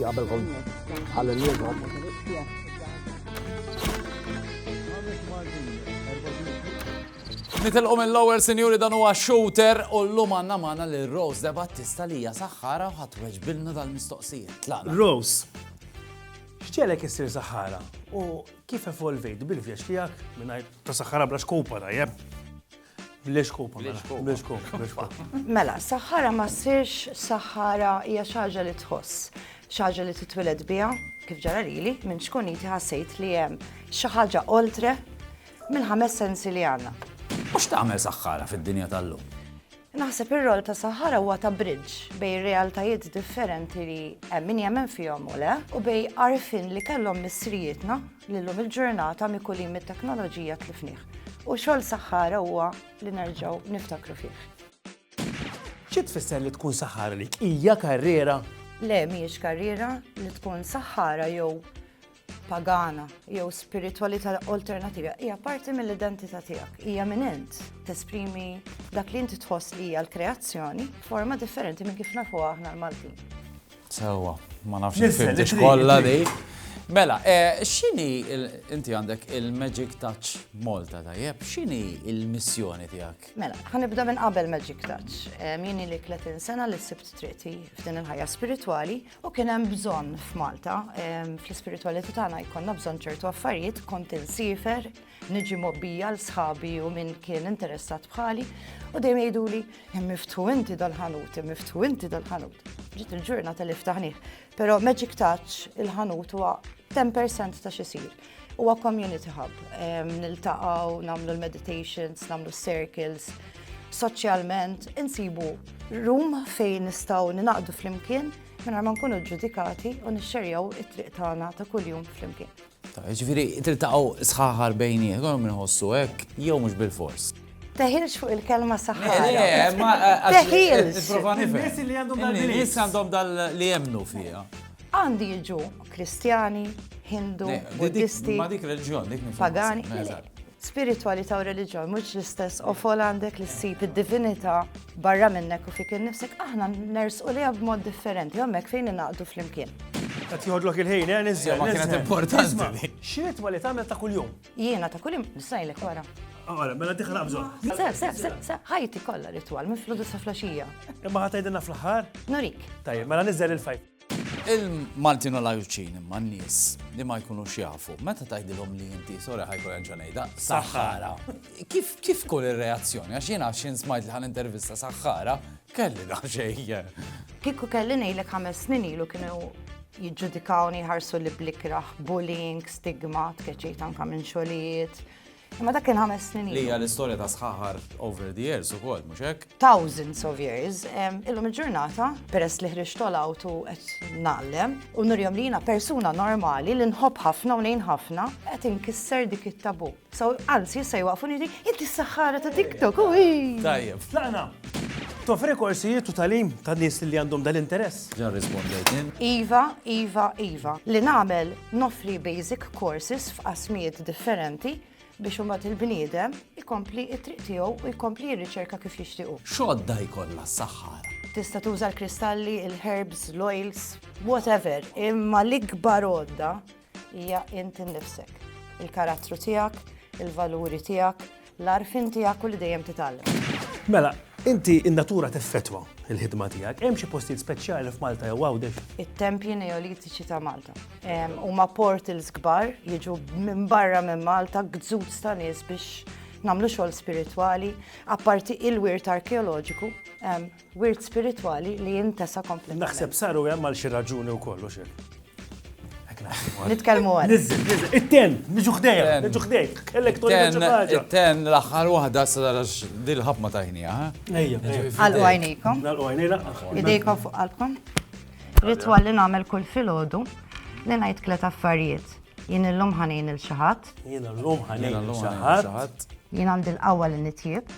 Qabel kont għal-lum. Nitilqu minn lower sinjuri dan huwa shooter u l-lum għanna maħna li Rose de Battista li hija saħħara u ħat weġbilna dal-mistoqsijiet. Rose, xċelek issir saħħara u kif evolvejt bil-vjaġġ tiegħek mingħajr ta' saħħara bla xkupa tajjeb? Bliex kupa, mela. Bliex kupa, bliex kupa. Mela, saħħara ma sirx saħħara hija xaġa li tħoss, xaġa li titwiled biha, kif ġara lili, minn xkuniti ħassejt li hemm xi ħaġa oltre mill-ħames sensi li għandna. Mhux tagħmel saħħara fid-dinja tal-lum. Naħseb ir-rol ta' saħħara huwa ta' bridge bej realtajiet differenti li hemm min jemmen fihom u le u bej arfin li kellhom misrijietna li llum il-ġurnata mikulin mit-teknoloġija tlifnih u xogħol saħħara huwa li nerġgħu niftakru fih. Xi tfisser li tkun saħħara li hija karriera? Le mhijiex karriera li tkun saħħara jew pagana jew spiritualità alternativa hija parti mill-identità tiegħek, hija minn int tesprimi dak li inti tħoss li hija l-kreazzjoni forma differenti minn kif nafu aħna l-Maltin. Sewwa, ma nafx il-fimtix kollha di. Mela, eh, x'inhi inti għandek il-Magic Touch Malta tajjeb, x'inhi il-missjoni tiegħek? Mela, ħanibda minn qabel Magic Touch. Eh, Mini li 30 sena li sibt triqti f'din il-ħajja spiritwali u kien hemm bżonn f'Malta. Eh, fl-ispiritwalità tagħna jkollna bżonn ċertu affarijiet, kont insifer, Niġi mobbija l sħabi u min kien interessat bħali u dejjem jgħiduli hemm miftu inti dal-ħanut, hemm miftu inti dal-ħanut. Ġiet il-ġurnata li ftaħnih, però Magic Touch il-ħanut huwa 10% ta' xisir. Huwa community hub, niltaqgħu, nagħmlu l-meditations, nagħmlu circles, soċjalment insibu room fejn nistgħu ninaqdu flimkien minn ma nkunu ġudikati u nixxerjaw it-triq tagħna ta' kuljum flimkien. Jiġifieri tiltaqgħu sħaħar bejnietkom jew inħossu hekk jew mhux bilfors. Teħilx fuq il-kelma saħħara. Le, ma teħilx. Nipprova nifhem. In-nies li għandhom dal-belief. In-nies għandhom dal li jemmnu fiha. Għandi jiġu Kristjani, Hindu, Buddisti. Ma dik reliġjon, dik pagani. Spiritwalità u reliġjon mhux l-istess qofol għandek li ssib id-divinità barra minnek u fik innifsek aħna nersqu liha b'mod differenti hemmhekk fejn ingħaqdu flimkien. Qed jgħodlok il-ħin, eh, niżel. Ma kienet importanti. X'ritwa li tagħmel ta' kuljum? Jiena ta' kuljum nisajlek wara. Għara, mela diħla bżon. Se, se, se, se, ħajti kollha ritwal minn fludu sa flaxija. Imma ħatajdinna fl-ħar? Nurik. Tajjeb, mela niżel il-fajt. Il-Maltin u l-Għawdxin imma n-nies li ma jkunux jafu, meta tgħidilhom li inti sora ħajkun ġa ngħidha saħħara. Kif kif tkun ir-reazzjoni għax jiena x'in smajt li ħan intervista saħħara kelli daħxejja. Kieku kelli ngħidlek ħames snin ilu kienu jiġġudikawni ħarsu li blikraħ, bullying, stigma, tkeċċejt anka minn xogħlijiet. Imma dak kien ħames snin. Li hija l-istorja ta' sħaħar over the years ukoll, mhux hekk? Thousands of years. Illum il-ġurnata, peress li ħriġ tolgħut u qed nagħlem u nurjom li jiena persuna normali li nħobb ħafna u nejn ħafna qed inkisser dik it-tabu. So anzi issa jwaqfu nidi inti s-saħħara ta' TikTok u Tajjeb, tlaqna. Tofri korsijiet u talim ta' nies li għandhom dal-interess. Ġa rrispondejt jien. Iva, iva, iva. Li nagħmel noffri basic courses f'qasmijiet differenti biex imbagħad il-bniedem ikompli t-triq tiegħu u jkompli jirriċerka kif jixtiequ. X'għodda jkollna s-saħħara? Tista' tuża l-kristalli, il-herbs, l-oils, whatever, imma l-ikbar għodda Hija int innifsek, il-karattru tiegħek, il-valuri tiegħek, l-għarfien tiegħek u li dejjem titgħallem. Mela, inti in-natura teffetwa il-ħidma tiegħek. Hemm xi postijiet speċjali f'Malta jew Għawdex? It-tempji neolitiċi ta' Malta. Huma portals kbar jiġu minn barra minn Malta gżud ta' nies biex nagħmlu xogħol spiritwali, apparti il-wirt arkeoloġiku, Wirt spiritwali li jintesa kompletament. Naħseb saru hemm għal xi raġuni wkoll u xejn. Nitkellmu għal. Nizzil, nizzil. It-ten, niġu ħdejja, niġu ħdejk. Kellek tolli ħaġa. It-ten l-aħħar waħda sarax dil-ħab ma tajnija. Ejja. Għal għajnikom. Għal għajnila. Idejkom fuq qalbkom. Ritwal li nagħmel kull filgħodu li ngħid tliet affarijiet. Jien illum ħanin il xaħat. Jien illum ħanin il xaħat. Jien għandi l-qawwa li nitjieb.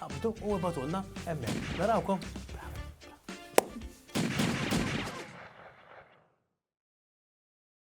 Qabdu u ibgħatulna hemmhekk. Narawkom!